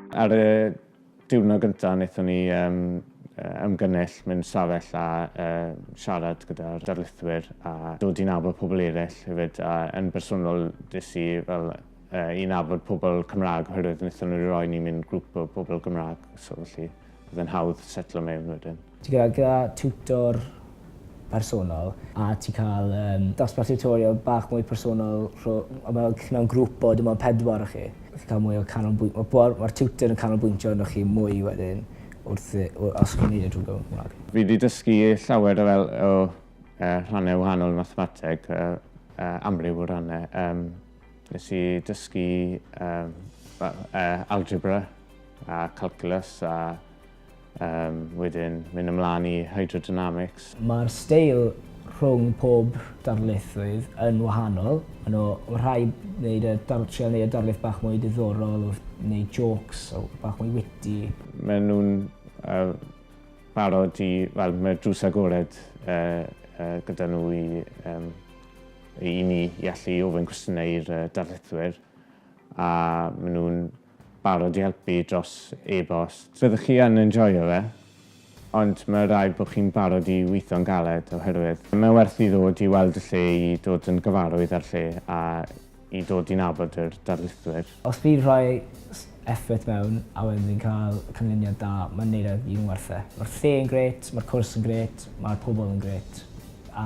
Ar y diwrnod gyntaf, wnaethon ni um, ymgynnull mewn safell a uh, siarad gyda'r darlithwyr a dod i nabod pobl eraill hefyd. A yn bersonol, des i fel uh, i nabod pobl Cymraeg oherwydd wnaethon nhw roi ni mewn grŵp o bobl Gymraeg. So, felly, Bydd e'n hawdd setlo mewn wedyn. Ti gyda gyda tiwtor personol a ti cael um, dosbarth tiwtorial bach mwy personol rho, mewn, mewn grŵp o dim ond pedwar o chi. Chi'n cael mwy o canolbwynt. Mae'r ma tiwtor yn canolbwyntio arnoch chi mwy wedyn wrth, wrth os chi'n neud y drwy Gymraeg. Fi wedi dysgu llawer o, fel, o uh, rhannau wahanol mathemateg, uh, uh, amryw o rannau. Um, nes i dysgu um, uh, algebra A Calculus a um, wedyn mynd ymlaen i Hydrodynamics. Mae'r steil rhwng pob darlithydd yn wahanol. Mae nhw rhai wneud y dar, trio wneud y darlith bach mwy diddorol, neu jokes, o, bach mwy witty. Mae nhw'n uh, barod i, wel, mae drws agored uh, uh, gyda nhw i, um, i ni i allu ofyn cwestiynau i'r uh, darlithwyr. A mae nhw'n barod i helpu dros e-bost. Fyddwch chi yn enjoio fe, ond mae rhaid bod chi'n barod i weithio'n galed oherwydd mae werth i ddod i weld y lle i dod yn gyfarwydd â'r lle a i dod i nabod yr darlithwyr. Os fi'n rhoi effort mewn a wedyn fi'n cael canlyniad da, mae'n neud e gyd yn werth e. Mae'r lle yn grêt, mae'r cwrs yn grêt, mae'r pobl yn grêt a